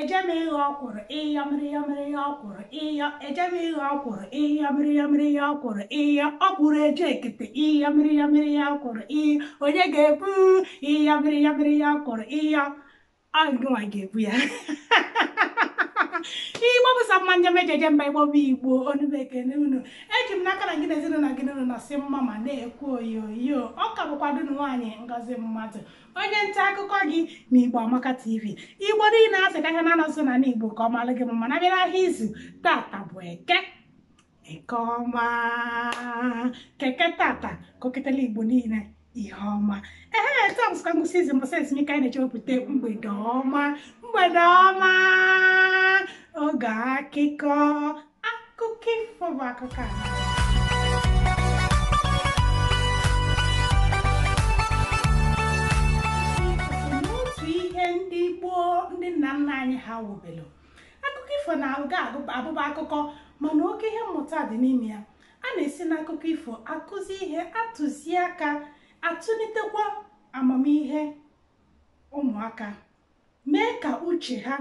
ejeme ịghọ ọkwụrụ ịyọ mịrịyọmịrị ya ọkwụrụ ịyọ ejeme ịghọ ọkwụrụ ịyọ mịrịyọmịrị ya ọkwụrụ ịyọ ọkwụrụ eje ekete ịyọ mịrịyọmịrị ya ọkwụrụ ịyọ onye ga-ebu ịyọ mịrịyọmịrị ya ọkwụrụ ịyọ agụnwa ga-ebu ya igbo bụ sọ mma njem ejeje mba igbo bụ igbo ọnụ m ekene unu eji m n'aka na gị na ezinụlọ gị na unu nọsị mma ma na-ekwu oyoyo ọ ka bụkwa ada unu nwaanyị ngozi mmadụ onye nta akụkọ gị na igbo amaka tv igbo niile asị ka ha na-anọsụ na igbo ka ọ malụ gị mma na bịara ahịa izu tata bụ eke eke ọma ka eke tata koketela igbo niile ihe ọma ee taa bụsịkwa ngwụsị izu mbọsị ezumike anyị na-eji ewepụta mgbede ọma mgbede ọma oge akụkọ akụkọ ifo bụ akụkọ a n'otu ihe ndị gboo ndị nna nna anyị ha wubelu akụkọ ifo na-aga abụba akụkọ mana oke ihe mmụta dị n'ime ya a na-esi n'akụkọ ifo akụzi ihe atụzi aka atụlitekwa amamihe ụmụaka mee ka uche ha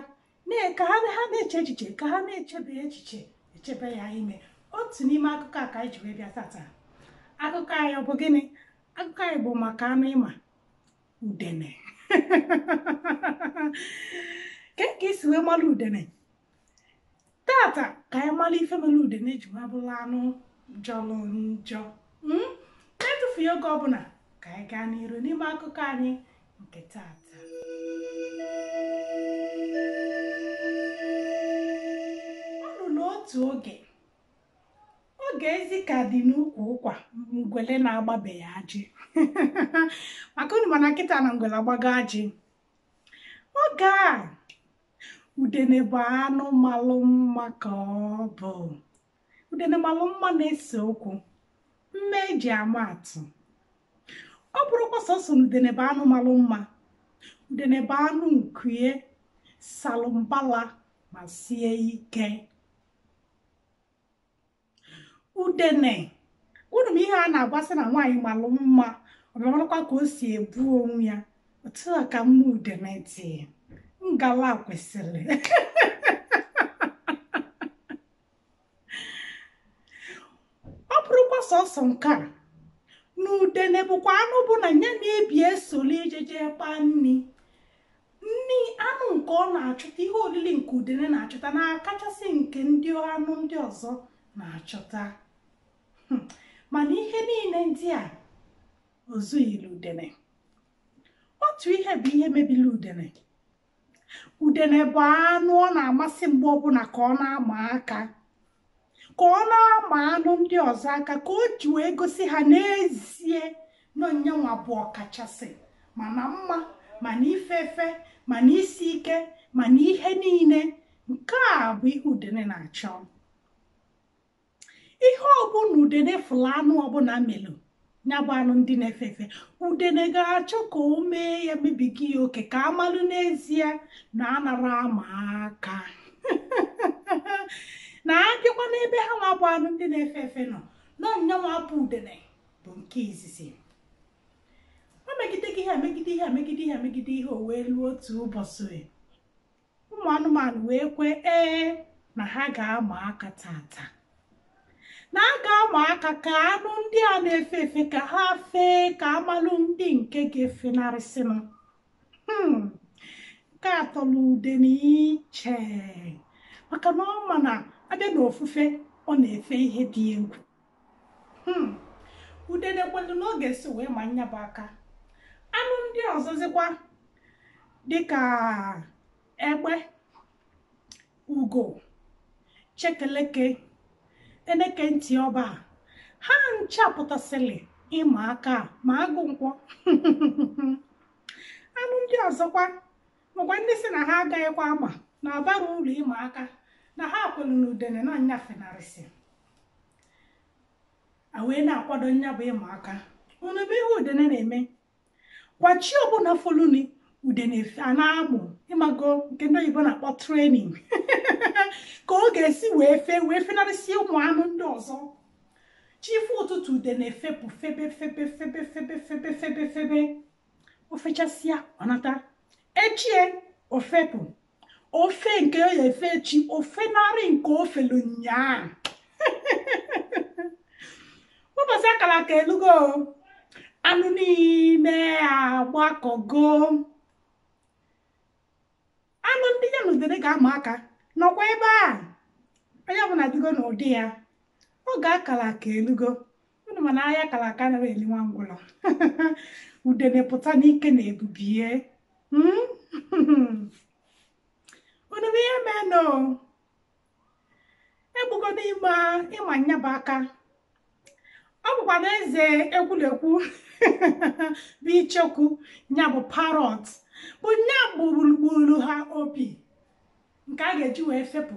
ka ha na-eche echiche ka ha na-echebe echiche echebe ya ime otu n'ime akụkọ a ka anyị ji wee bịa tata akụkọ anyị ọ bụ gịnị akụkọ anyị bụ maka anụ ị ma udene kee ka i si wee mara udene tata ka anyị mara ife mere udene ji wee bụrụ anụ jọrọ njọ na-etufughị oge ọbụla ka anyị gaa n'iru n'ime akụkọ anyị nke tata o ruru otu oge oge ezi ka dị n'ukwu ụkwa ngwele na-agbabeghị ajị maka unu ma na kịta na ngwele agbago ajị oge a udene bụ anụ malụ mma ka ọ bụ udene malụ mma na-ese okwu mma e ji ama atụ ọ bụrọkwa sọsọ na udene bụ anụ malụ mma udene bụ anụ nku ya salụ mbala ma sie ike udene unu ma ihe a na-agbasị na nwaanyị malụ mma ọ bịa malụkwa ka o si ebu onwe ya otu a ka mma udene dị ngala kwesịrị ọ bụrọkwa sọsọ nke a na udene bụkwa anụ bụ na ya na-ebi esoli ejeje kpaa nri nri anụ nke ọ na-achụta ihe oriri nke udene na-achụta na-akachasị nke ndị anụ ndị ọzọ na-achụta hmm. mana ihe niile ndị a ozughịrị udene otu ihe bụ ihe mebiri udene udene bụ anụ ọ na-amasị mgbe ọbụla ka ọ na-ama aka ka ọ na-ama anụ ndị ọzọ aka ka o ji wee gosi ha n'ezie na ọ nyanwa bụ ọkachasị ma na mma ma na ife efe ma na isi ike ma na ihe niile nke a bụ ihe udene na-achọ ihe ọbụla udene fụlụ anụ ọbụla melu ya bụ anụ ndị na-efe efe udene ga-achọ ka o mee ya mebiga ya oke ka a malụ n'ezie na anara ama aka na a bịakwa n'ebe ha nwa bụ anụ ndị na-efe efe nọ na ọ nyanwa bụ udene bụ nke izizi o megide gị ihe megide ihe megide ihe megide ihe o wee luo otu ụbọsị ụmụ anụmanụ wee kwee ee na ha ga-ama aka taata na a ga-ama aka ka anụ ndị a na-efe efe ka ha fee ka a malụ ndị nke ga-efenarịsịnụ hmm, nke a atọla udene iche maka na ọ ma na a bịa n'ofufe ọ na-efe ihe dị egwu Hmm. udene kwelu n'oge si wee ma nya bụ aka anụ ndị ọzọzikwa dịka egbe ugo chekeleke eneke ntị ọba ha ncha pụtasịrị ịma aka ma agụ nkwọ anụ ndị ọzọkwa makwa ndị si na ha agaghịkwa ama na abara ulu ịma aka na ha kwelu na udene na nya efenarịsị a wee na-akwado nya bụ ịma aka unu bụ ihe udene na-eme kwa chi ọbụla foluni udene efe- a na-amụ ị mago nke ndị oyibo na-akpọ training ka ọ ga-esi wee fee wee fenarịsịa ụmụ anụ ndị ọzọ chi foo ụtụtụ udene efepụ febe febe febe febe febe febe febe o fechasịa ọ nata echi o fepụ o fee nke ọ ya-efe echi o fenarị nke o felu nyaa ụbọsị a kara aka elugo anụ niile agbakọgo anụ ndị ya na udene ga-ama aka nọkwa ebe a onye ọbụla dịgo n'ụdị ya oge a kara aka elugo unu ma na aya a kara aka anara eli nwa ngwụlọ udene pụta n'ike na ebube ya Hmm? unu ma ihe menụ egbugo n'ime ịma nya bụ aka ọ bụkwa na eze ekwulekwu bụ ichekwu nya bụ parrot bụ nya bụ gburu gburu ha opi nke a ga-eji wee fepụ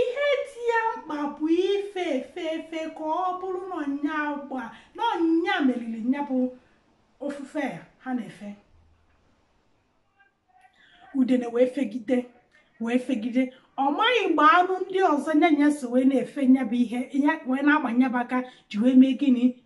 ihe dị ya mkpa bụ ife efe efe ka ọ bụrụ na ọ nya gba na ọ nya meriri nya bụ ofufe a ha na-efe udene wee fegide wee fegide ọ maghị mgbe anụ ndị ọzọ nya na ya so wee na-efe nyabụ ihe wee na-ama nyabụ aka ji wee mee gịnị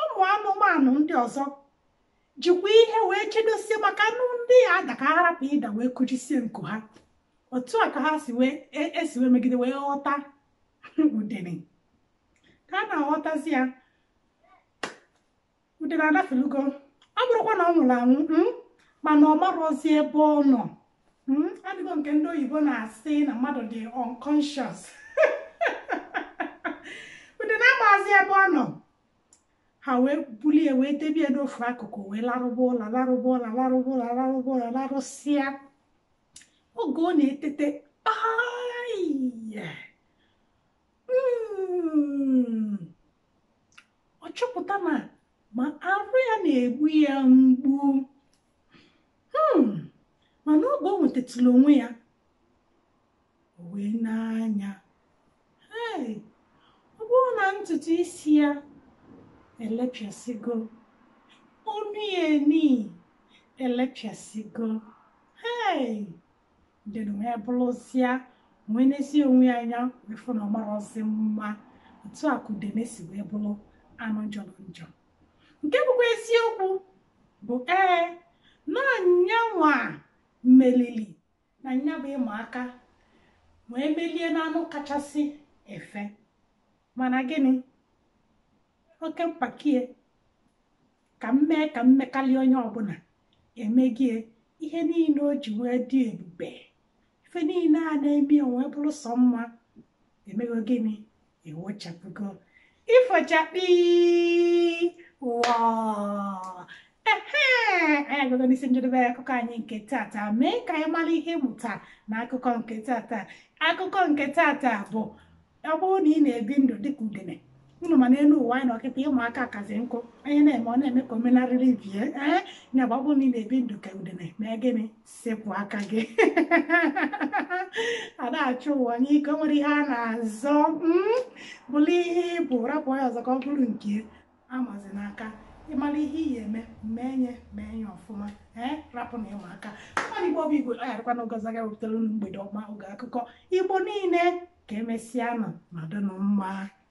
ụmụ anụmanụ ndị ọzọ jikwa ihe wee chedosie maka anụ ndị a ada ka ha rapụ ịda wee kụjisie nku ha otu a ka ha si esi wee megide wee ghọta udene ka a na-aghọtazi ya udene adafelugo ọ bụrọkwa na ọ nwụrụ anwụ mm, mana ọ marọzi ebe ọ nọ Hmm, adịgo nke ndị oyibo na-asị na mmadụ dị unconscious udene amazi ebe ọ nọ ha wee bulie wee debie n'ofu akụkụ wee larụba ụla larụba ụla larụba ụla larụba ụla larụsịa oge ọ na-etete aịya mm, ọ chọpụta na ma arụ ya na-egbu ya mgbu hmm, mana oge o nwetatụlụ onwe ya o wee nee anya ọ bụrụ na ntutu isi ya elepịasịgo onu ya niine elepịasịgo hei udene wee bụrụzịa wee nezie onwe ya anya wee fụ na ọ marọzi mma otu a ka udene si wee bụrụ anụ jọlọ njọ nke bụkwa eziokwu bụ ee na nyanwa melili na nya bụ ịma aka wee melie n'anụ kachasị efe mana gịnị oke mpako ya ka m mee ka m mekarịa onye ọbụla emego ya ihe niile o ji wee dị ebube ife niile a na-eme o wee bụrụ sọ mma emego gịnị ewochapụgo ifo chakpii wọọ ehe anyị agago n'isi njedebe akụkọ anyị nke tata mee ka anyị mara ihe mmụta na akụkọ nke tata akụkọ nke tata bụ ọ bụrụ na ị na-ebi ndụ dịka udene unu ma n'elu ụwa anyị nọ kịta ịma aka akazi nkụ onye na-eme ọ na-eme ka o menarịrị ibe ya ee ya bụ ọ bụrụ na ị na-ebi ndụ ka udene mee gịnị sepụ aka gị a na-achụ ụwa n'ike o nwere ihe a na-azọ mm, bụrụ ihe ị bụ rapụ onye ọzọ ka ọ bụrụ nke amazi n'aka ị mara ihe ị ya-eme mee nye mee nye ọfụma ee rapụ na ịma aka mmadụ igbo bụ igbo a yarịkwa na ogozi aga wepụtara unu mgbede ọma oge akụkọ igbo niile ka emesịanụ nọdụnụ mma